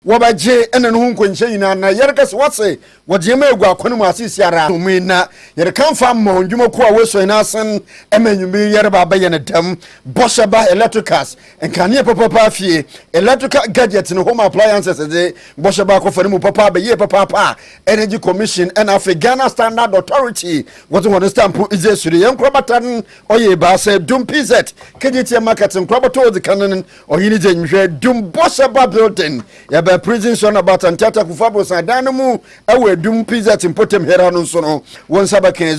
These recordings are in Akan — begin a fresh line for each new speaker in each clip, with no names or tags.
Wɔbɛgye ɛnne no ho nkɔnhyɛ nyinaa, na yɛreka sɛ, Wɔse wɔgye ma egu akwan mu asisi ara a, ɔmo yi na yɛreka mfa mma wɔn dwumakuo a wɔasua nyinaa asen ma anwummerɛ yi yɛreba abɛyɛ no dɛm bɔhyɛ ba electricals, nkanea papaapa fie, electrical gadgets ne home appliances dze bɔhyɛ ba akɔfa no mu papa bɛyie papaapa a Energy Commission na afei Ghana Standard Authority wɔdze hɔn stamp dze asure yɛn nkorabata no ɔyɛ ebiasa, Dum PZ, KGTM Market nkorabata odzikan no Ɔhene dze nhwɛ dum bɔ sɛ ba building yɛ bɛ prison sɔ na bata ntiata kufu abrosan dan no mu wɔ edum pizet mpotem hera no nso no wo nsa bɛkɛ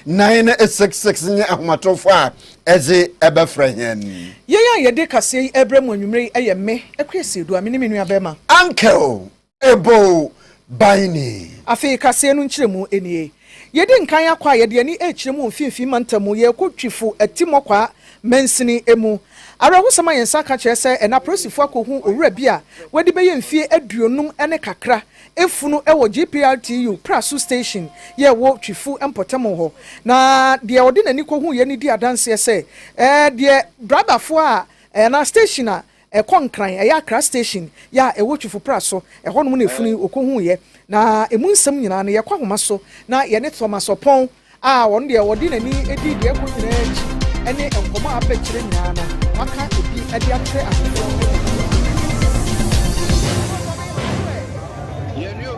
0536095966 nye ahomatɔfo a ɛdze ɛbɛfrɛ hɛn. Yɛn a yɛde
kaseɛ yi ɛbrɛ mo anwumerɛ yi yɛ me, Kwesi Adu, a me ne me nuabɛɛma. Uncle
Eboo ban ni. Afei kaseɛ
no nkyerɛmu nie. Yɛdi nkan akɔ a yɛde ani rekyerɛ mu wɔ mfimfini mantam mu, yɛrekɔ Twifo Atimmɔkwaa mansini mu. Awerɛhosɛm a yɛn nsa aka kyerɛ sɛ ɛnnɛ apolisifo akɔhu owura bi a wadi bɛyɛ mfie aduonum ne kakra afunu wɔ GPRTU Praso Station yi a ɛwɔ Twifo mpɔtam hɔ. Na deɛ ɔde n'ani kɔhuiɛ no di adanseɛ sɛ deɛ driverfoɔ a anaa station a Ɛkɔ Nkran, ɛyɛ Accra Station yɛ a ɛwɔ Twifo Pra so, ɛhɔnom na ɛfunu yi ɔkɔhuuiɛ. Na ɛmu nsɛm nyinaa no, yɛkɔ ahoma so na yɛne Thomas Oppong a ɔno deɛ ɔde n'ani di deɛ ɛkɔ nyinaa akyi ne nkɔmmɔ a apɛ kyerɛ nyinaa no, waka bi de akyerɛ afoforɔ.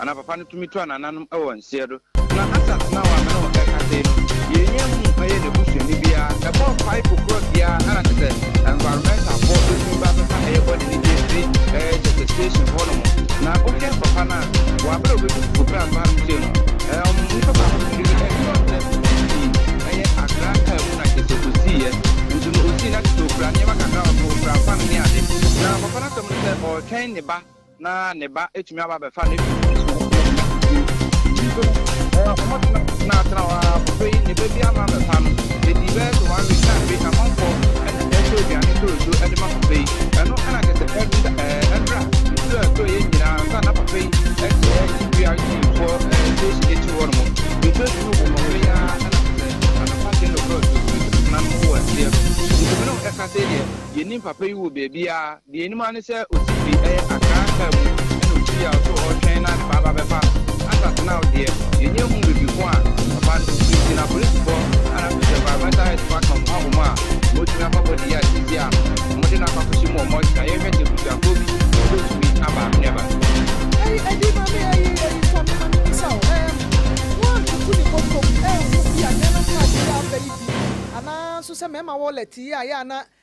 Ana papa no tumi tua nananom wɔ nseɛ do? Na Asat no a wɔ mene wo ɛkasɛi no yɛnnya hu yɛ nabusuani biaa ɛbɔ pipe korɔ biaa ana kyɛsɛ environmental foɔ bɛtumi ba abɛfa ɛyɛ body no bi afiri ɛyɛ kyɛsɛ station hɔ nom na wohwɛ papa no a wɔ aberɛ a ɔbɛtu koko berɛ a meba hanom sei no ɛɛɔm nnipa baako firi ɛyɛ ɔkyerɛ ɔsii ɛyɛ akra kaa mu na kyɛsɛ ɔsiiɛ nso no ɔsii na kyɛsɛ ɔkura nneɛma kakra ɔkura fan ne ade na papa no asɛm no sɛ ɔɔtwɛn ne ba na ne ba atumi aba abɛfa ne fi no so. Nso no, wɔtena tenatena hɔ ara poso yi ne ba bi ama abɛfa no. Edii bɛyɛ sɛ one week na afei amanfoɔ na ɛretɔ aduane ntoronto de ma papa yi. Ɛno na kyerɛ sɛ ɛnda ɛɛ ɛnra nsuo a ɛtɔ yɛn nyinaa ansa na papa yi ɛde ɛɛsi BRT foɔ ɛɛ station akyiri hɔ nom. Nsuo tumi wɔ mmɔfra yi ara na kyerɛ sɛ anɔpa kyɛn no korɔ nsuo tumi nam wɔ aseɛ no. Nti me ne wo ɛka sei deɛ, yɛnim papa yi wɔ baabiara. Deɛ yɛnim ara ne sɛ Osifi yɛ Akran kaa mu ɛna ɔkyiri a ɔso ɔretwɛn na ne ba aba bɛfa Ansat now deɛ yɛnnya nhuu baabi ko a ɔba no firi nti na Apolisifoɔ a na afei so Environmental Health Department ɔmo abom a wɔatumi afa body yi a seesei a wɔde no akɔ akɔhyɛ mu wɔ mortuary na yɛrehwɛ sɛ abusuafoɔ bi bɛtumi aba Nuaba. Ɛyi ɛdi ma me ɛyi ɛyi tɔ me mane nsa o ɛɛm woantutu ne bɔtɔ mu ɛɛhu bi a nɛɛma mu a ɛte sɛ abɛ yi
bi anaa nso sɛ mɛɛma wallet yi a yɛ a na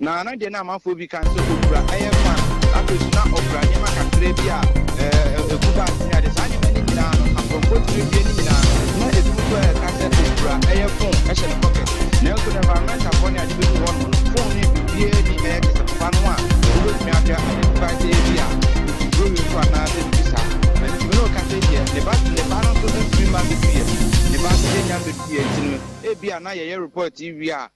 Na na deɛ na amanfoɔ bi kan sɛ ɔkura yɛ fan, na afei nso na ɔkura nneɛma kakra bi a ɛgu bags ne adeɛ. Saa nneɛma no nyinaa no, akorɔmfoɔ tumi bie ne nyinaa. Na ebi mu koraa ɛka sɛ ɔkura yɛ phone hyɛ ne pocket. Nanso no environmentalfoɔ ne ade bɛdu hɔ nom no, phone no yɛ biribiara ni, ɛyɛ te sɛ papa no a wobɛtumi ahwɛ identify sɛ ebi a ɔtuturo wei so anaasɛ biribi saa. Na nti no ɔka sɛ deɛ ne ba ne ba no nso ntumi mma bɛduiɛ, ne ba nso yɛnnya mbɛduiɛ nti no ebi a na yɛyɛ report wie a,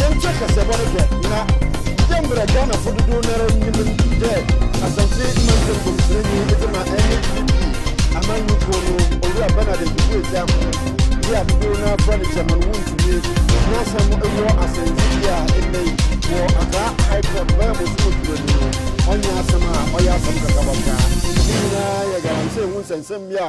yɛnkyɛ kasɛbɔ no hwɛ na yɛ mmerɛ ghanafo dodoɔ no ara nim dɛ asante mantam kɔmsirani de ma ɛne pdp amanyɔkuo no owura bernard nkuku agya ho de a dodoɔ no afra ne chairman wo ntumi n'asɛm wɔ asɛntibi a ɛnnɛ yi wɔ akaa high court bɛyɛ mo so ɔduro ni no ɔnyɛ asɛm a ɔyɛ asɛm kakabɔ koraa ne nyinaa yɛ garansɛ ɛho nsɛnsɛm bi a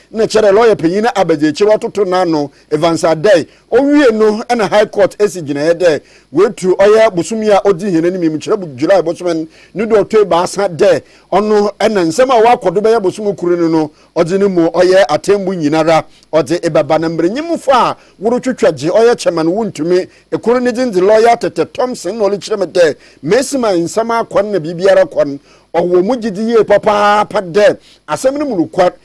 na kyɛrɛ lɔya panyin no abadziekyir ɔtoto n'ano, Evans Addae. Owiei no na High Court si gyinae dɛ woetu ɔyɛ bosoom yi a odzi hɛn enyim yi mu, kyerɛ July bosoom no do ɔtɔ ebiasa dɛ ɔno na nsɛm a ɔakɔ do bɛyɛ bosoom kor no no ɔdze no mu ɔyɛ atsɛmbu nyinara ɔdze ebɛba na mbernyimfo a worotwetwa dze ɔyɛ kyɛma no wonntumi. Kor ne dzin dze Lɔya Tete Thompson na ɔrekyerɛ me dɛ mesi ma nsɛm akɔ no na biribiara kɔ no, ɔwɔ mu gyedzi yie papaapa dɛ asɛm no mu nokwar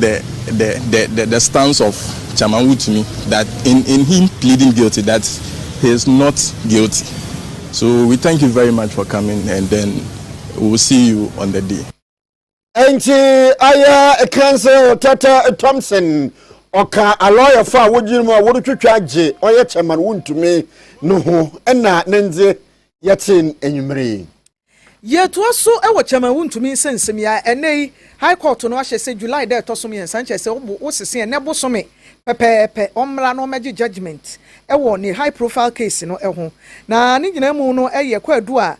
the the the the the stance of Chairman Wutumi that in in him pleading guilty that he is not guilty so we thank you very much for coming and then we will see you on the day. Nti
ayɛ Council Tata Thompson ɔka alɔyɛfo a wogyina mu a wɔretwitwa agye ɔyɛ Chairman Wontumi no ho ɛna ne ndze yɛtee enyimire yi. Yɛtoa
so wɔ kyɛm a wontumi nsen nsɛm yi a ɛnnɛ yi High Court no ahyɛ sɛ July da a ɛtɔ so mmiɛnsa, nkyɛ sɛ ɔbo wosese ɛnnɛ bosome pɛpɛɛpɛ, ɔmmra na ɔmmɛgye judgement wɔ ne high profile case no ho. Na ne nyinaa mu no yɛ kwaadu a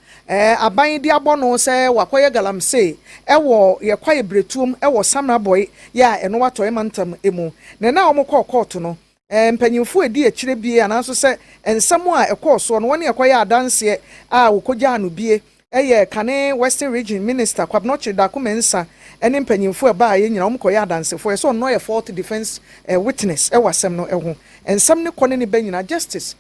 aban de abɔ no sɛ wakɔyɛ galamsee wɔ yɛ kwaeɛ berɛtuom wɔ Samrabɔe yɛ a ɛno atɔe mantam mu. Na ɛna a wɔkɔɔ kɔɔto no mpanyimfo a edi akyire bie anaaso sɛ nsɛm a ɛkɔɔ soɔ no wɔne ɛkɔyɛɛ adanseɛ a wɔkɔgyaa no bie yɛ kane Western Region Minister Kwabnochir Darko Mensah ne mpanyimfo a ɛbaeɛ nyinaa wɔn kɔyɛ adansefoɔ ɛsɛ ɔno yɛ fourth defence witness wɔ asɛm no ho nsɛm no kɔ ne ne ba nyinaa Justice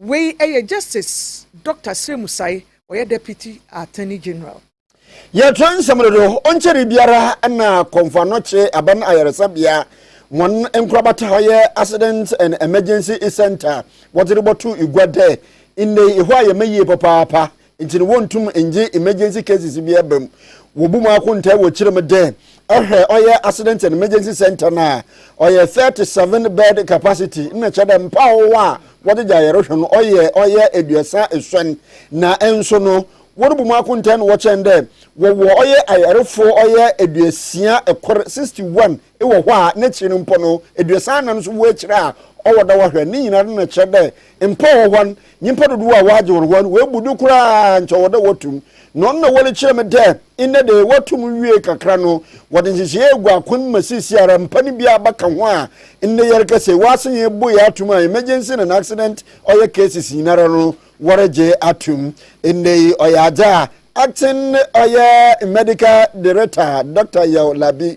Wei yɛ Justice Dɔkta Sire Musae, ɔyɛ Deputy Attorney General. Yɛtwerɛ
nsɛm no do. Ɔnnkyɛree biara na Kɔmfo Anɔkye Aban Ayaresabea hɔn nkorabata hɔ yɛ Accident and Emergency Centre wɔdze robɔto gua dɛ ndɛ yi hɔ ayɛ ma yie papaapa Ntsi no wonntum nngye emergency cases biara ba mu. Wobu mu akontaa wɔ tsir mu dɛ, ehwɛ ɔyɛ Accident and Emergency Centre no a, ɔyɛ thirty seven bed capacity, nna kyerɛ dɛ mpaw hɔ a wɔdze gye ayarehwɛ no ɔyɛ ɔyɛ eduasa esuon. Na nso no, worubu mu akontaa na wɔkyɛn dɛ wɔwɔ ɔyɛ ayarfo ɔyɛ eduosia kor, sixty one, ewɔ hɔ a, n'ekyir no mpo no, eduasa anan so wɔ ekyir a ɔwɔ dɛ wɔhwɛ. Ne nyinara nna kyerɛ dɛ, Mpo wɔ hɔ no, nyimpa dodow a wɔagye hɔnho ano woebu do koraa a nkyɛ ɔwɔ dɛ wɔto mu, na ɔno na wɔrekyerɛ me dɛ ndɛ de wɔto mu wiei kakra no, wɔdze nhyehyɛɛ egu akwan mu ma siesiara mpa no biara bɛka ho a ndɛ yɛrekasa yi wɔasan ebu yɛ ato mu a emergency na accident ɔyɛ cases nyinara no wɔregye ato mu. Ndɛ yi ɔyɛ adze a Acting ɔyɛ Medical Director Doctor Yaw Labi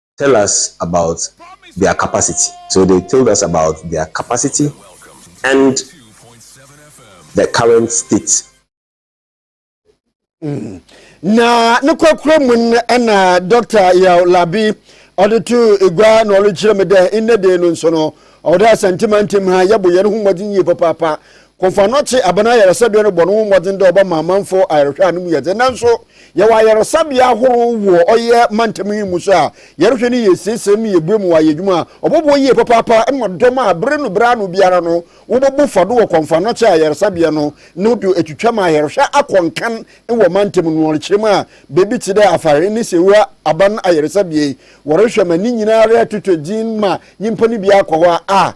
tell us about their capacity so they told us about their capacity and the current state. Mm.
na ne korakora mu no ɛna dɔkta yaw labi ɔde to egua na ɔrekyerɛ me dɛ nnɛ dee no nso no ɔwɔ dɛ asɛntemantam ha yɛbɔ yɛn ho mmɔden yie papaapa Komfano tse aban ayarsabea no bɔ noho mbɔdzen dɛ ɔbɛma amamfo ayarhwɛ a no mu yɛ dzen. Naaso, yɛwɔ ayarsabea ahorow wɔ ɔyɛ mantam yi mu so a yarhwɛ no yɛ esiesiem na yebue ma wɔayɛ edwuma a ɔbɔboa yie papaapa ma dɔm a ber no ber ano biara no wɔbɔbu fa do wɔ Komfano tse ayarsabea no no do etwitwa ma ayarhwɛ akɔ nkan wɔ mantam no ɔrekyerɛ mu a beebi tse dɛ Afare ne Sewura aban ayarsabea yi wɔrohwɛ ma ne nyinara totɔ dzin ma nyimpa no bi akɔ hɔ a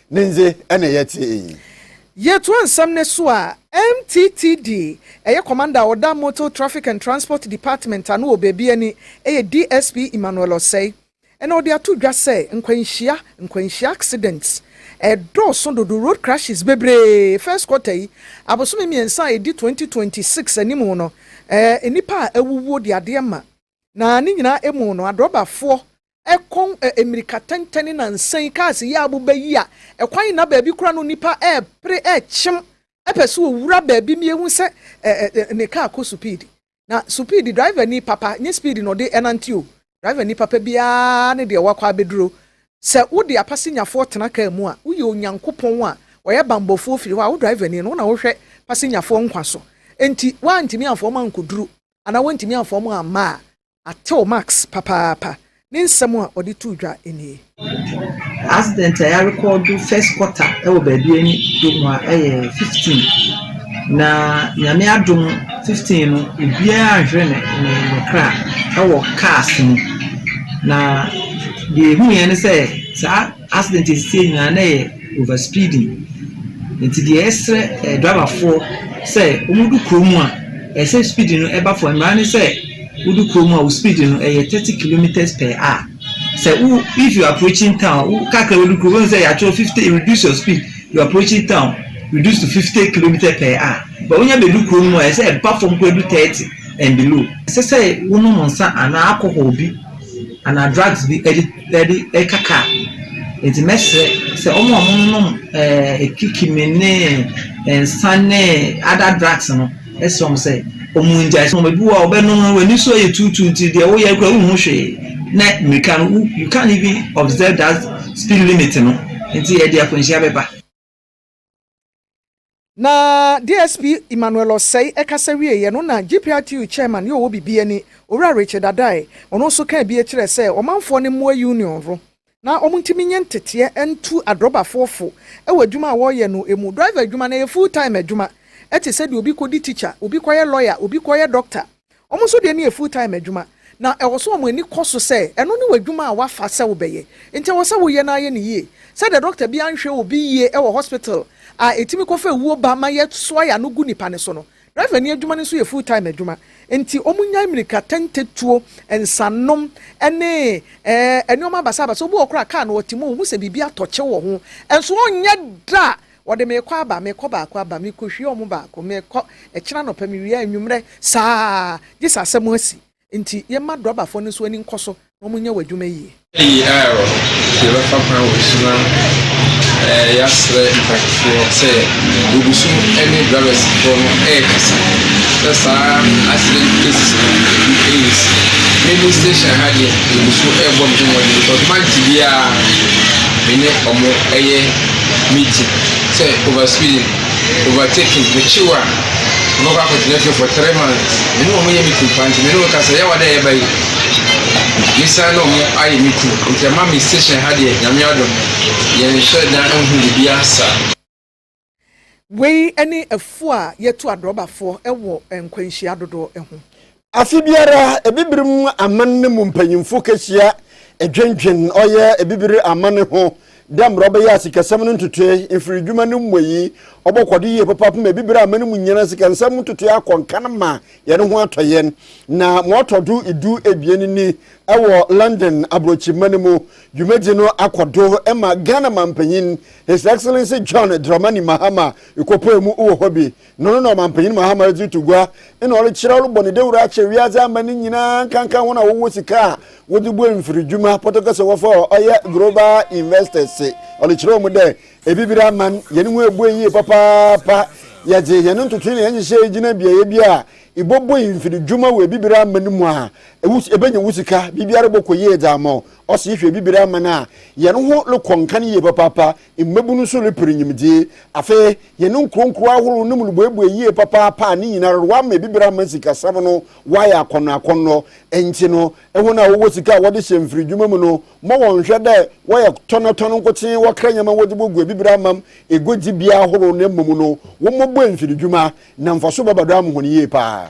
Ne ndze na yɛtse iyi. Yɛtoa
nsɛm no so a, MTTD, ɛyɛ Commander a ɔda Motor Traffic and Transport Department ano wɔ baabiara ni, ɛyɛ DSP Emmanuel Osei, na ɔde ato dwa sɛ nkwanhyia, nkwanhyia accidents, ɛredɔɔso dodo, road crashes, bebree, first quarter yi, abosome mmiɛnsa a ɛdi twenty twenty six anim no, eh, nnipa a awuwuo de adeɛ ma. Na ne nyinaa mu no, adrɔbafoɔ kɔn mmirika tɛntɛn ne nansa yi, kaase yi a aboba yi a ɛkwan nna baabi koraa no nnipa repere, rekyem, pɛ sɛ wɔwura baabi ma yɛhu sɛ ne kaa kɔ supiidi. Na supiidi, drivani papa, nyɛ supiidi na ɔde nante o, drivani papa biara ne deɛ wakɔ abɛduro. Sɛ wode apasenyafoɔ tena kaa mu a, woyɛ Onyankopɔn a ɔyɛ banbɔfoɔ firi hɔ a, wo drivani no, wo na wohwɛ pasenyafoɔ nkwa so. Enti woantumi amfa wɔn ankɔduru anaa woantumi amfa wɔn amma a, atew Max papaapa. Ne nsɛm a ɔde too dwa nie.
Accident a yɛarekɔɔdo first quarter wɔ baabi a ɛne Domo a ɛyɛ fifteen, na Nyame adom fifteen no obiara anhwere ne ne kra wɔ cars mu, na deɛ ɛhuiɛ ne sɛ saa. Accident a ɛsisɛe nyinaa na ɛyɛ over speeding nti deɛ yɛsrɛ driver foɔ sɛ wɔn du kuro mu a ɛsɛ speed no ɛba fam mmara ne sɛ wo du kuro mu a wo speed no ɛyɛ thirty kilometres per hour sɛ wo if you approaching town wo kakra wo du kuro wɔn sɛ yɛatwerɛ fifty reduce your speed you approaching town reduce to fifty kilometres per hour but wɔn nya bɛ du kuro mu a ɛsɛ ɛba fam kura du thirty and below ɛsɛ sɛ wo nom nsa anaa alcohol bi anaa drugs bi ɛde. Daabi, ɛka ka. Enti mɛsrɛ sɛ wɔn a wɔnom ɛɛ kikimi ne nsa ne other drugs no, ɛsrɛ wɔn sɛ wɔngyae. Wɔn ebi wɔ hɔ a wɔbɛnom no, wɔn ani so yɛ tuutuu nti deɛ woyɛ koraa wonhu hwee. Na mmirika no, wo you can't even observe that speed limit no. Enti ɛde akwanhyia bɛba.
Na DSP Emmanuel Osei ɛkasa wieɛ no na GPRTU Chairman yɛ ɔwɔ bibi ani, Owura Richard Addae, ɔno nso kaa bi kyerɛɛ sɛ ɔmanfoɔ no mmoa Union no na wɔn ntumi nyɛ nteteɛ ntu adrɔbafoɔ fo wɔ adwuma a wɔreyɛ no mu. Driver adwuma no ɛyɛ full time adwuma te sɛ deɛ obi kɔdi teacher, obi kɔyɛ lawyer, obi kɔyɛ doctor. Wɔn nso deɛ no yɛ full-time adwuma, na ɛwɔ sɛ wɔn ani kɔ so sɛ ɛno ne w'adwuma a woafa sɛ wobɛyɛ, enti ɛwɔ sɛ woyɛ na yɛ no yie. Sɛdeɛ dɔkta bi anhwɛ obi yie wɔ hospital a ɛtumi kɔfa awuo ba ma yɛsoa yɛn ano gu nnipa no so no, driverni adwuma no nso yɛ full-time adwuma, enti wɔnyae mmirikatɛntɛtuo, nsanom, ne nneɛma basabasa. Obi wɔ hɔ koraa a, kaa na ɔte mu a, ɔhu sɛ biribi atɔ kyew wɔ ho, nso ɔrenyɛ da a Wɔde me rekɔ aba, mekɔ baako aba, mekohwie wɔn baako, mekɔ, ɛkyena anɔpa, mewie anwummerɛ, saa ara, gye sɛ asɛm asi. Enti yɛmma drɔbafoɔ no nso ani nkɔ so na wɔnyɛ wɔn adwuma yie. AR, Yɛbɛfa
kwan wɔ so na yɛasrɛ mpakifoɔ sɛ wɔgu so ne drɔbɛsfoɔ no rekasa sɛ saa accident cases no ɛgu ɛresi. Me me station ha deɛ, yɛgu so rebɔ me ho mmɔden because month biara me ne wɔn yɛ. Meeting sɛ over speeding, over taking, mekye wo a ɔbɛkɔ akɔtena fie for three months, me ne wɔn yɛ meeting paa nti me ne wɔn kasa yɛ awa dɛ yɛba yi, mesan ne wɔn ayɛ meeting nti ɛma me station ha deɛ nyame adom yɛnhyɛ da nhu biribiara saa. Wei
ne afuo a yɛtu adrɔbafoɔ wɔ nkwanhyia dodoɔ ho. Afe biara,
Ebibirim aman no mu mpanyimfo kehyia dwendwen ɔyɛ Ebibir aman no ho dɛ mbrɛ ɔbɛyɛ a sikasɛm no ntotoe, mfirdwuma no mmuei, ɔbɔkɔ do yie papaapa ma Ebibir aman no mu nyina sikansɛm ntotoe akɔ nkan ma hɛn ho atɔ hɛn. Na ma ɔtɔ do du ebien ni, wɔ London aborɔkyirmba no mu, dwumadzi no akɔ do ma Ghana Mampanyin His Excellency John Dramani Mahama kɔpaa mu wɔ hɔ bi. No no na Ɔmampanyin Mahama dze to gua na ɔdze kyerɛ ɔrobɔ ne dawur akyerɛ wiadze aman no nyina, nkanka hɔn a wɔwɔ sika a wɔdze bue mfirdwuma, Portuguese wɔfrɛ hɔ ɔyɛ global investors, ɔdze kyerɛ hɔn dɛ, Ebibir aman, hɛn ho ebue yie papaapa, yɛdze hɛn ntotoe na hɛn nhyehyɛɛ gyina beae bi a ibobue mfirdwuma wɔ ebibir aman mu a, ebenya wo sika, biribiara bɔkɔ yie dze ama wo. Ɔse ihwɛ ebibir aman a, hɛn ho rokɔ nkan yie papaapa. Mmabunu nso repere nyimdzee. Afei, hɛn nkuronkuro ahorow no mu no boebue yie papaapa a ne nyinara do wɔama ebibir ama sikasɛm no wɔayɛ akɔndɔakɔndɔ. Ntsi no, hɔn a wɔwɔ sika a wɔdze hyɛ mfirdwuma mu no, mma wɔnnhwɛ dɛ wɔyɛ tɔnatɔn nkotsee, wɔkra ndzɛmba wɔdze bogu ebibir amam eguadzibea ahorow na mbom no, wɔmmɔbue mfirdwuma, na mfaso bɛba do ama hɔn yie paa.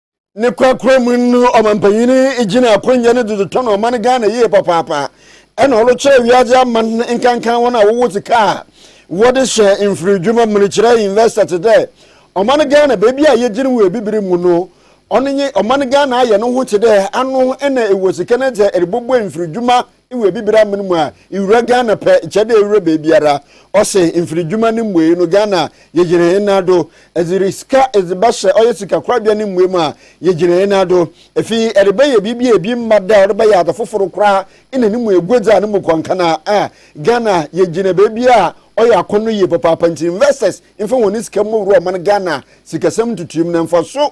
ne korakora mu no ɔmampanyini gyina akonnwa no dodo tɔn ɔman ghana yie papaapa ɛna ɔrekyerɛ wiase aman nkankan wɔn a wɔwɔ sika a wɔde hyɛ mfiri dwuma mu no kyerɛ investor te dɛ ɔman ghana baabi a yɛgyina wɔ abibire mu no ɔno nye ɔman ghana ayɛ no ho te dɛ ano na ɛwɔ sika no sɛ ɛrebɔbɔ mfiri dwuma wɔ Abibire amene mu a, ewura Ghana pɛ, kyɛ dɛ ewura beebiara. Ɔse mfiridwuma no mbuei no, Ghana yegyina hɛn nan do. Edze sika edze bɛhyɛ ɔyɛ sikakorabea no mbuei mu a, yegyina hɛn nan do. Afei erebɛyɛ biribi a bi mma da a ɔde bɛyɛ adze fofor koraa na no mu eguadzi a no mu kɔ nkana a, Ghana yegyina beebi a ɔyɛ akɔn no yie papaapa ntsi investors mfa hɔn sika mbɔwura ɔman Ghana sikasɛm ntutuimu na mfaso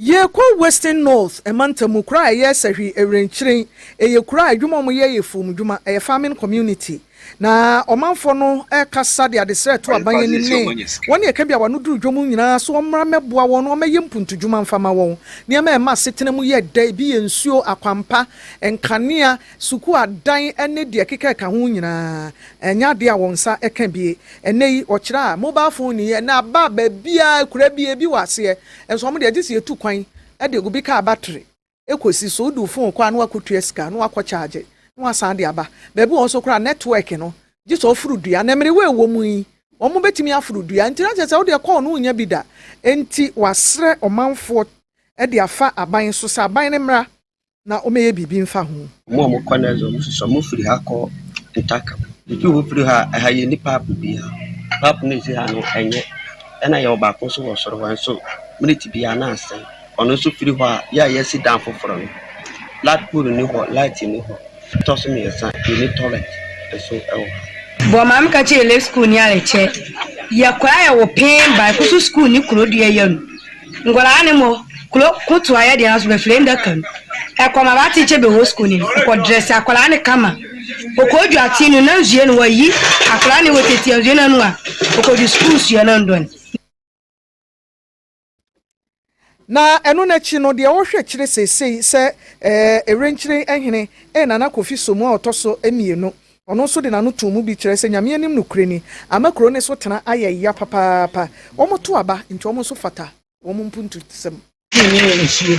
Yɛrekɔ Western North mantam mu, kuro a ɛyɛ sahwi, ɛwrenkyeren. Ɛyɛ kuro a adwuma a wɔyɛ yɛ afuom dwuma, ɛyɛ farming community. Na ɔmanfoɔ no rekasa de adesrɛ reto aban anim ne wɔn ne ɛka bi a wɔano duru dwom nyinaa so wɔmmra mmɛboa wɔn na wɔmmɛyɛ mpuntudwuma mfa mma wɔn. Nneɛma a ɛma asetena mu yɛ dɛ, ebi yɛ nsuo, akwampa, nkanea, Sukuu adan ne deɛ ɛkeka ɛka ho nyinaa, ɛnyɛ adeɛ a wɔn nsa ka bi. Ɛnnɛ yi, wɔkyerɛ a, mobile phone ni yɛ na aba baabiara, akuraa biara ebi wɔ aseɛ. Nso wɔn deɛ gye sɛ yɛtu kwan de obi kaa battery kɔsi so. Wodu phone kɔ a na wakɔtua sika na wakɔ charge na wasan de aba. Baabi wɔ hɔ nso koraa network no gye sɛ ɔforo dua. Na mmerewa a ɛwɔ mu yi, wɔbɛtumi aforo dua nti na kyerɛ sɛ wo deɛ call no wonnya bi da. Enti wɔasrɛ ɔmanfoɔ de afa aban so sɛ aban no mmra na ɔmmɛyɛ biribi mfa ho. Wɔn a wɔkɔ no dze,
wɔsosɔ wɔfir ha kɔ Ntaka. Ifi hɔ fir ha a, ha yɛnni paap biara. Paap no edzi ha no, nnyɛ. Nna yɛwɔ baako so wɔ sor hɔ, nso minit biara nna asɛɛ. Ɔno so fir hɔ a, yɛ a yɛresi dan fofor no, plug pole nnyi hɔ, light nnyi hɔ. Ɔtɔ so miɛnsa, yɛnni toilet so wɔ ha. Bɔ
maa meka kyerɛɛ Lake Skuulni a, yɛkyɛ yɛkɔ a yɛwɔ peen baako so skuulni kor do yɛyɛ no. Nkwadaa no mɔ kuro ko to ayɛ deɛ nanso bɛfiri ndaka mu ɛkɔ ma ba tikye bɛwɔ sukuu no mu ɔkɔ drɛse akwadaa no kama ɔkɔ dwa ati no na nsuo no wayi akwadaa no wɔ tete nsuo no ano a ɔkɔ dwa sukuu nsuo no ndɔn.
Na ɛno no akyi no deɛ ɔrehwɛ kyerɛ seesei sɛ ɛɛ Erenkyiren hene ɛyɛ Nana Kofi Somu a ɔtɔ so mmienu Ɔno nso de n'ano too mu bi kyerɛɛ sɛ Nyame anim nokorɛ ni, ama kuro no so tena ayɛ ya papaapa. Wɔto aba, nti wɔn nso fata wɔn mpuntusɛm. Tea no yɛ nsuo.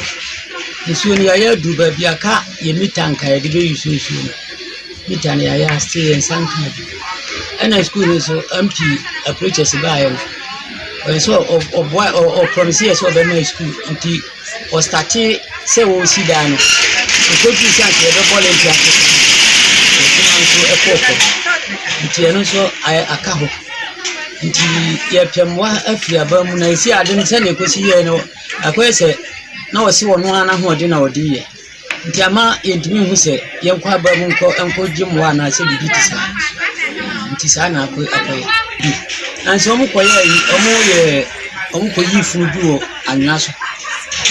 Nsuo no yɛayɛ aduru baabi a ka yɛ mita anka yɛde bɛuse nsuo no. Mita no yɛayɛ asete yɛn nsa nka ade. Ɛna sukuu no nso MP Apreaches baeɛ no, ɔyɛ sɛ ɔboa, ɔpromise yɛ sɛ ɔbɛma yɛ sukuu nti. Wɔstartee sɛ wɔresi dan no, ɛkɔduruu sɛ anka yɛbɛbɔ lintel ase koraa no, ɔsono ara nso kɔɔ fam. Nti ɛno nso ayɛ aka hɔ. Nti yɛrepɛ mmoa afiri aban mu, na ɛsii ade no sɛdeɛ ɛkɔsi yɛeɛ no, akɔyɛ sɛ na ɔse ɔno ara n'ahoɔden na ɔde reyɛ. Nti ama yɛntumi nhu sɛ yɛnkɔ ababun kɔ nkɔgye mmoa anaasɛ biribi te saa nti saa na akɔ akɔyɛ nanso wɔn kɔyɛ yi wɔn yɛ wɔn kɔyi funu bi wɔ anwea so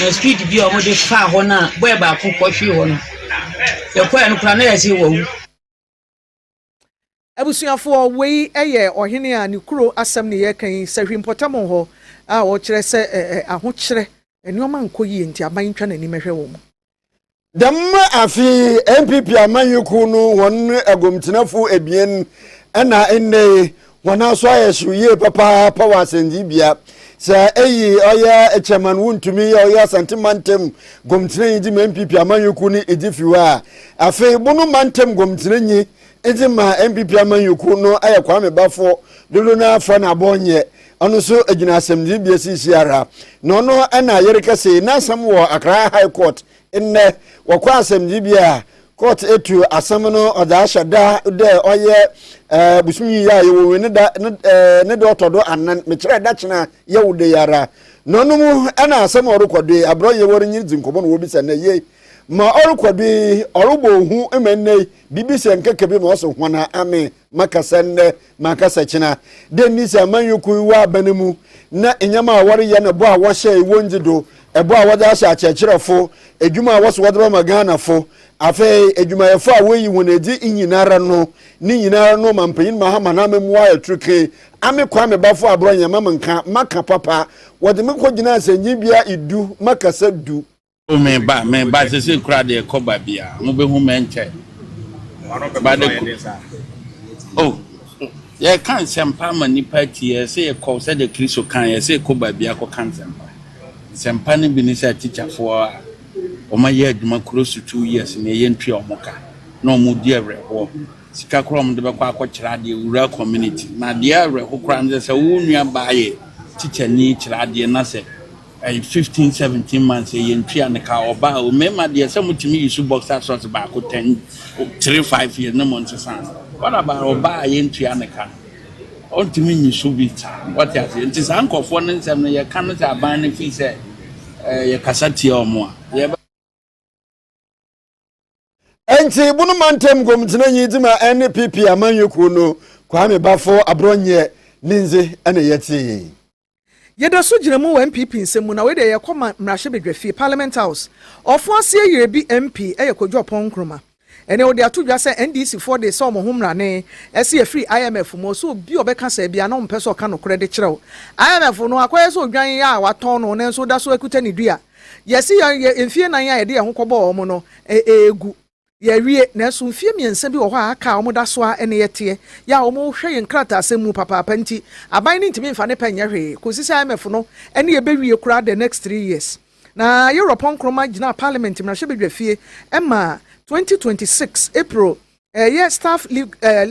na speed bi a wɔde faa hɔ no a bɔyɛ baako kɔhwee hɔ no yɛkɔɛ no koraa na yɛsɛ wɔawu.
Abusuafoɔ, wei yɛ ɔhene a ne kuro asɛm ne yɛreka yi, Sahwi mpɔtam hɔ a ɔkyerɛ sɛ ahokyerɛ, nnoɔma nkɔ yie nti aban ntwa n'anim nhwɛ wɔn. Dɛm
afei NPP amanyɔkuo no hɔn agomtsenafo ebien na ndɛ yi Wɔn aso ayɛ hyew yie papaapa wɔ asɛnnibea. Sɛ eyi ɔyɛ chairman wontumi yɛ ɔyɛ Asante mantam gomtenanyi dze ma NPP amanyɔkuw no edzi fi hɔ a, afei bono mantam gomtenanyi dze ma NPP amanyɔkuw no ayɛ Kwame Bafo dodow no ara fa na bɔnyɛ. Ɔno so gyina asɛmdzibea siisiara. Na ɔno na yerekɛse yi n'asɛm wɔ Accra High Court Ndɛ, wɔ kɔ asɛmdzibea a, kɔɔt etu asɛm no ɔdze ahyɛ da dɛ ɔyɛ bosoom yi a yɛwɔ mu no da no da ɔtɔ do anan, mekyerɛ da kyena Yɛwda yi ara. Na ɔno mu na asɛm a ɔrokɔ do yi, aber a yɛwɔ nye no dzi nkɔmbɔ na wɔbisa no yie. Ma ɔrokɔ do yi, ɔrobɔ hu ma ndɛ yi, biribi sɛ nkeka bi ma ɔse, Hɔn a amee makasa nnɛ makasa kyena dɛ nni sɛ amanyɔkuo yi wɔ abana mu na nneɛma a wɔreyɛ no ɛbɔ a wɔhyɛ ɛwɔ ngye do ɛbɔ a wɔde ahyɛ akyerɛkyerɛfo adwuma a wɔso wɔde bɛma ghanafo afei adwumayɛfo a wɔyi wɔn adi nyinara no ne nyinara no ma mpanyin mahama na amamua ɛturuke ame kwa mebafo aborɔ yɛn ma menka maka papa wɔde me kɔ gyina asɛnyi bia edu makasa du Oh me ba me
ba sese kura de kɔ ba bia mo be hu mɛnkyɛ ba de ko oh yɛ ka nsɛmpa ma nipa ti yɛ sɛ yɛ kɔ sɛ de kristo kan yɛ sɛ kɔ ba bia kɔ ka nsɛmpa nsɛmpa no bi ne sɛ tikyafoɔ a wɔn ayɛ adwuma kuro so two years na ɛyɛ ntua wɔn ka na wɔn di awerɛhoɔ sika koraa wɔn de bɛkɔ akɔkyerɛ adeɛ wura community na adeɛ awerɛho koraa no sɛ sɛ wɔn nua baa yɛ tikyani kyerɛ adeɛ na sɛ Ɛyɛ fifteen seventeen months yɛ yɛn tua no ka ɔba a mmarima deɛ sɛ mo tumi use boxer shorts baako ten three five years ne mo nsesa no what about ɔba a yɛn tua no ka no ɔntumi nyi so bi saa wɔte aseɛ nti saa nkurɔfoɔ no nsɛm no yɛka no sɛ aban no fii sɛ ɛɛ yɛkasa tia wɔn a yɛbɛ.
Ɛnti bunu mantam gomtenanyi dze ma NPP amanyɔ kuo no Kwame Bafo Aborɔnyɛ ne ndze na yɛtee. Yɛda
so gyina mu wɔ NPP nsɛm mu na wei deɛ yɛkɔ ma mmarahyɛbedwafie, Parliament House. Ɔfo aseɛ yere bi MP yɛ Kojo Ɔpɔn Nkrumah. Ɛnɛ wɔde ato dwa sɛ NDC foɔ de sɛ wɔn ho mmara ne ɛse yɛfiri IMF mu. Ɔsɛ obi a ɔbɛka saa biara na ɔmpɛ sɛ ɔka nokorɛ de kyerɛ wo. IMF no akɔyɛ sɛ odwan a watɔn no nanso ɔda so akuta ne dua. Yɛasi yɛn yɛn mfeɛ nnan a yɛde yɛn ho kɔbɔɔ wɔn no regu. Yɛawie, nanso mfeɛ mmiɛnsa bi wɔ hɔ a aka a wɔda so ara ne yɛn teɛ. Yɛ a wɔhwɛ yɛn nkrataasɛm mu papaapa nti, aban no ntumi mfa ne pɛ nyɛ hwee kɔsi sɛ IMF no ne yɛn bɛwie koraa the next three years. Na Europe Nkrumah gyinaa Parliament mmarahyɛbadwafie maa 2026 April Ɛyɛ staff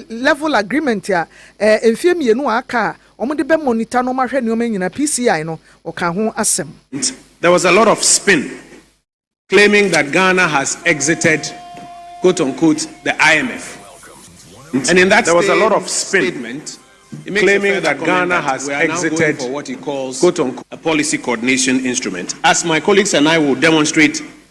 level agreement a mfeɛ mmienu a aka a wɔde bɛ monitor nnoɔma ahwɛ nnoɔma nyinaa, PCI no, wɔkaa ho asɛm. There was a lot
of spin claiming that Ghana has exited quote unquote the IMF and in that same statement he makes a further comment that we are now going for what he calls a policy coordination instrument as my colleagues and I will demonstrate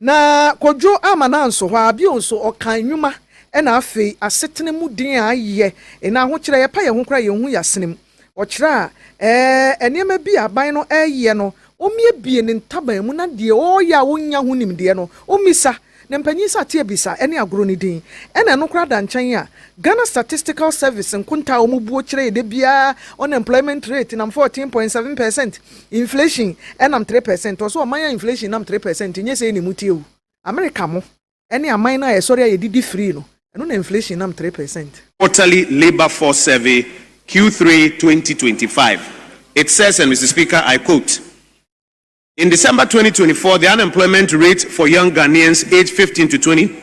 Na
Kojo amma n'anso hɔ ara bio nso, ɔkaa nnwuma na afei asetena mu den a ayɛ na ahokyerɛ a yɛpa yɛn ho koraa a yenhu yɛn asene mu. Ɔkyerɛɛ a ɛɛ nneɛma bi a aban no reyɛ no, ommiebie ne ntaban mu na deɛ ɔreyɛ a onnya ho nimdeɛ no, ommisa ne mpanyin nsateaa bisa ne agorɔ no din. Ɛna ɛno koraa da nkyɛn a, Ghana Statistical Service nkontaa a wɔbuo kyerɛɛ da biara unemployment rate nam fourteen point seven percent Inflation nam three percent ɔsɛ ɔman a inflation nam three percent nyɛ sei na emu teɛ o America mo ne aman no a yɛsɔre a yɛdidi free no ɛno na inflation nam three percent. Quarterly Labour
Force Survey, Q three twenty twenty five, It says and Mister Speaker I quote In December twenty twenty four the unemployment rate for young Ghanaians aged fifteen to twenty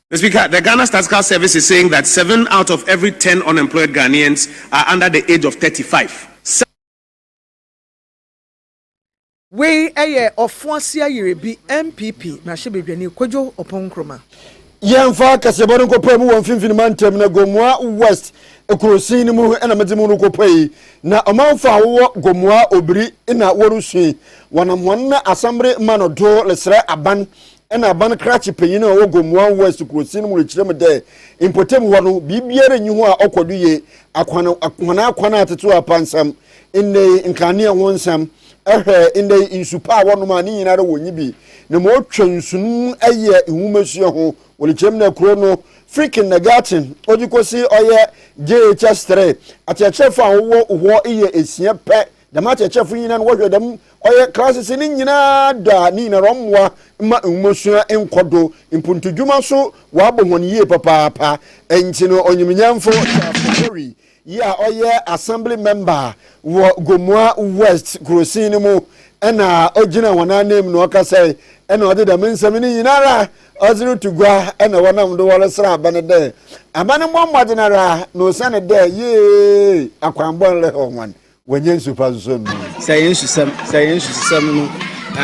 Mister Speaker, the Ghana Statistical Service is saying that seven out of every ten unemployed Ghanaians are under the age of thirty five.
Wei yɛ Ɔfoase Ayere bi, NPP mmarahyɛbadwani Kwadwo Ɔpong Nkrumah. Yɛmfa
akasɛbɔ no nkɔpae mu wɔ Mfimfini Mantam no Gomoa West kurosin no mu na medze mu no kɔpae yi. Na ɔmanfo a wɔwɔ Gomoa Obiri na wɔresu yi, wɔnam hɔn asɛmbere ma no do reserɛ aban Nna aban krakye panyin a ɔwɔ Gomoang West kurowsin mu rekyerɛ me dɛ mpɔtam hɔ no, biribiara nnyi hɔ a ɔkɔ do yie, akwan, hɔn akwan a atsetse hɔ apansam, ndɛyi nkanee ho nsɛm, hwɛ, ndɛyi nsu pa a wɔnom a ne nyinara wonnyi bi, na ma otwa nsu no mu yɛ nwomasua ho. Wɔrekyerɛ me dɛ kurow no, Frikin na Gatsen, odzi kosi ɔyɛ JHS three, akyerɛkyerɛfo a wɔwɔ hɔ yɛ esia pɛ Dɛm akyerɛkyerɛfo nyina no wɔhwɛ dɛm ɔyɛ klasese no nyina da a, ne nyinara ɔmboa mma nwomasua nkɔ do, mpontodwuma so wɔabɔ hɔn yie papaapa. Ntsi no onyimnyamfo Charles Ogori yi a ɔyɛ Assembly Member wɔ Gomoa West kurowsin no mu na ogyinaa hɔn ananmu na ɔkasae na ɔdze dɛm nsɛm no nyinara ɔdze rutu gua na wɔnam do wɔresera aban dɛ aban mbɔ mbɔdzen ara na osiandɛ yie akwanbɔn rehɛw hɔn. Wɔnyɛ nsu pa nso nnom. Sɛ yɛn nsusɛm sɛ
yɛn nsusɛm no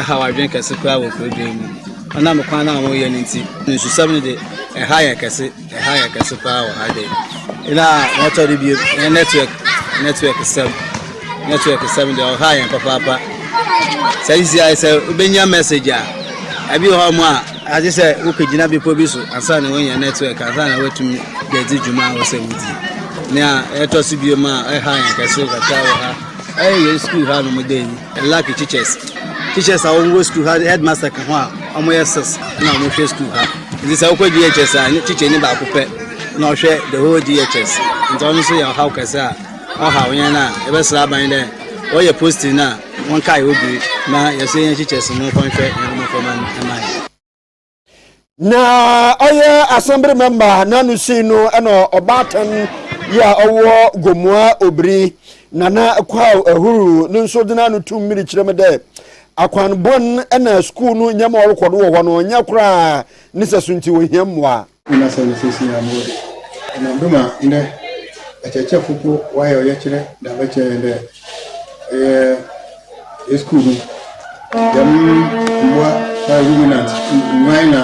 haw adwene kɛse koraa wɔ kurodwen mu. Ɔnam kwan no a wɔyɛ no nti, nsusɛm no de, ɛha yɛn kɛse, ɛha yɛn kɛse paa wɔ ha de. Na wɔtɔ de bio, yɛn network, network sɛm, network sɛm de ɔha yɛn papaapa. Sɛ sisi ayɛ sɛ wobɛnya message a, ɛbi wɔ hɔ a Agye sɛ wokɔgyina bepɔ bi so ansa na woanya network ansa na woatumi de adzi dwuma a wɔ sɛ wodzi. Nea ɛtɔ so bio ma ɛha yɛn kɛse kakra wɔ ha ɛyɛ yɛn sukuu ha nom dɛ yi lucky teachers teachers a wɔwɔ sukuu ha headmaster ka ho a wɔyɛ six na wɔhwɛ sukuu ha nti sɛ wokɔ DHS a ne teacher ni baako pɛ na ɔhwɛ the whole DHS nti ɔno nso yɛ ɔhaw kɛse a ɔhaw yɛn a yɛbɛsrɛ aban dɛ wɔyɛ posting no a Monkae odwiri na yɛsɛ yɛn kyekyɛ se no kɔnhwɛ yɛn mmɔframma no ma
yɛn. Na ɔyɛ asɛmbere mɛmba n'ano sii no na ɔbaatan yi a ɔwɔ Gomoa Obiri, Nana Kwaw Ahuru no nso de n'ano tum miri kyerɛ me dɛ akwan bɔn na skuul no nyɛma ɔrokɔ do wɔ hɔ no nnyɛ koraa ne sɛ so ntsi ohia mboa. Nna sɛ no seseiara
mowɔ de, ɔnam do ma ndɛ akyerɛkyerɛfo mpo wɔayɛ ɔyɛkyerɛ dze abɛkyerɛ hɛn dɛ yɛyɛ yɛ skuul mu dɛm mbowa na ruminant, nguan na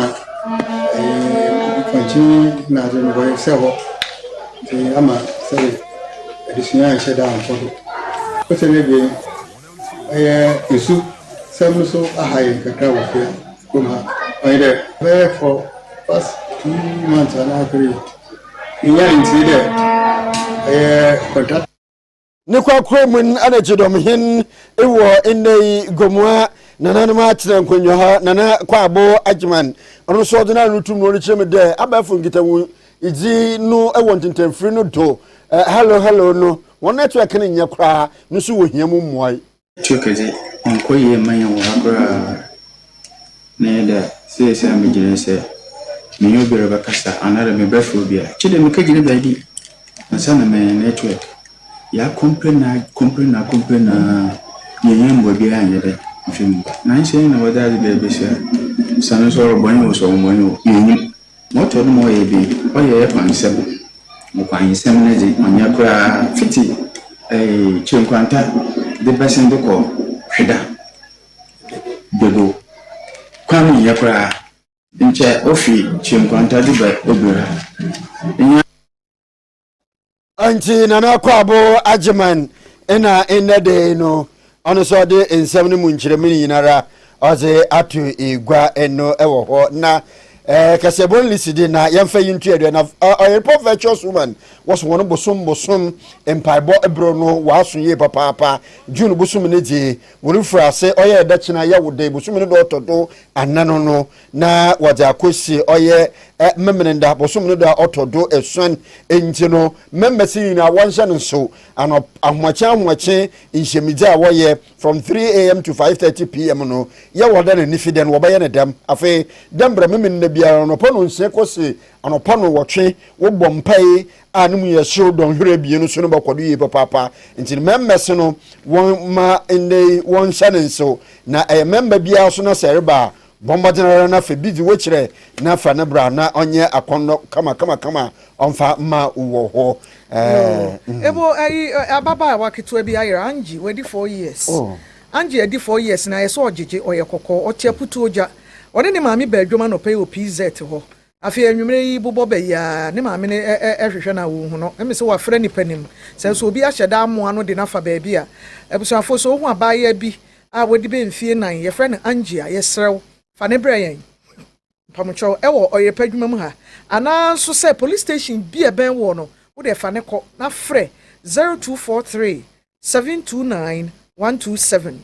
mpɔnkye nadze no wɔresɛ hɔ ntsi ama sɛbe adesua annhyɛ da annkɔ do. Osiandɛ ebien. Ɛyɛ esu sɛm no so aha yɛn kakra wɔ fie ha kurom ha. Ɔyɛ dɛ bɛyɛ for past two months anaa three. Yenya ntsie dɛ ɛyɛ contract. Ne korakora
mu no na Gyedɔmhen wɔ nnɛ yi, Gomoa nananom atsena nkonnwa hɔ, Nana Kwabo Agyeman, ɔno nso ɔdze n'ano tum no ɔrekyerɛ mu dɛ abɛɛfo nkitahodzi no wɔ ntentɛnfir no do, hello hello no. Wɔn network no nyɛ koraa no nso wɔ hia mu mmuae. Network dze
ɔnnkɔ yie mma hɛn wɔ ha koraa na yɛ dɛ seesei a megyina yi sɛ menye obi rebɛkasa anaadɛ mebɛfrɛ obi a gyedɛ mekegyina baabi ansa na manya network. Yɛakomplain a komplain a komplain a yɛn hia mboa biara annyɛ dɛ mfe mu. Naaso hɛn na wɔdze adze bɛyɛ besi ha. Sane nso ɔrobɔ nye wo so ɔmmbɔ nye wo, yennyim. Motor no ma ɔyɛ bi, ɔyɛ yɛ kwan nsɛm, mo kwan nsɛm no dze ɔnnyɛ koraa fitsi ɛɛɛ Kyenkwanta dze bɛsen dze kɔ Hweda, Dwego kwan no nnyɛ koraa. Nkyɛ ofi Kyenkwanta dze ba Ebira, nnyɛ.
nti nana akwaabo agyeman na nnɛ de no ɔno nso ɔde nsɛm no mu nkyerɛmu no nyinara ɔdze ato egua no wɔ hɔ na eh, kasɛbɔ nlisi de na yɛmfa yi nto aduane na ɔyerepɔ eh, virtuous woman wɔso wɔn bosom bosom mpaebɔ berɛ no wɔaso yie papaapa june bosom no dze wɔrefiri ase ɔyɛ ɛdɛkyena yɛwo dɛ bosom no dɔ ɔtɔ do anano no na wɔdze akosi ɔyɛ Memeneda bosoom no do a ɔtɔ do esuon. Ntsi no, members nyina wɔnhyɛ no nsew, anɔp, ahoɔkyen ahoɔkye nhyiamidzi a wɔyɛ from three AM to five thirty PM no, yɛwɔ dɛ na Nefi dɛ no wɔbɛyɛ no dɛm. Afei, dɛ mbrɛ Memeneda biara no, anɔpa nonsia kosi anɔpa nowɔtwe, wɔbɔ mpae a no mu yɛ hyew dɔnhwer ebien no so no bɔkɔ do yie papaapa. Ntsi no, members no, wɔmma ndɛ yi wɔnhyɛ no nsew, na ɛyɛ member biara so na sɛ ereba a, Bɔ mbɔdzen ara na fa bi dzi hɔ kyerɛ na fa no bra na ɔnyɛ akɔndɔ kamakamakama a ɔmmfa mma wo wɔ hɔ. Ɛɛm.
Ebo ayi ababaawa ketewa bi ayera, Angie, wadi four years. Oh. Angie adi four years na ayɛ sɛ ɔgyegye, ɔyɛ kɔkɔɔ, ɔte aputuo gya. Ɔne ne maame baa dwam anɔpa yi wɔ PZ hɔ. Afei anwummere yi bobɔ bɛ yi ara, ne maame no rehwehwɛ no a onhu no. Ɛme sɛ wafra nnipa no mu. Sɛ nso obi ahyɛ da amoa no de no afa baabi a, abusuafoɔ, sɛ ohu abaayewa bi a wadi bɛ mfie nnan, yɛfrɛ no Angie a, yɛsrɛ wo, fa no brɛ yɛn, mpamokyɛw, ɛwɔ ɔyerepɛ adwuma mu ha. Anaa nso sɛ polisi station bi a ɛbɛn woɔ no, wo deɛ fa no kɔ, na frɛ 0243 729 127.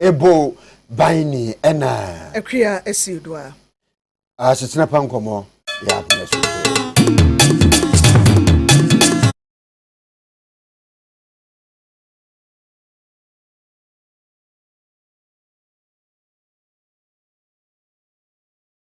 ebo ban ni ɛna. Akuya esi do a. Asetena pa nkɔmɔ
yɛ abena
so.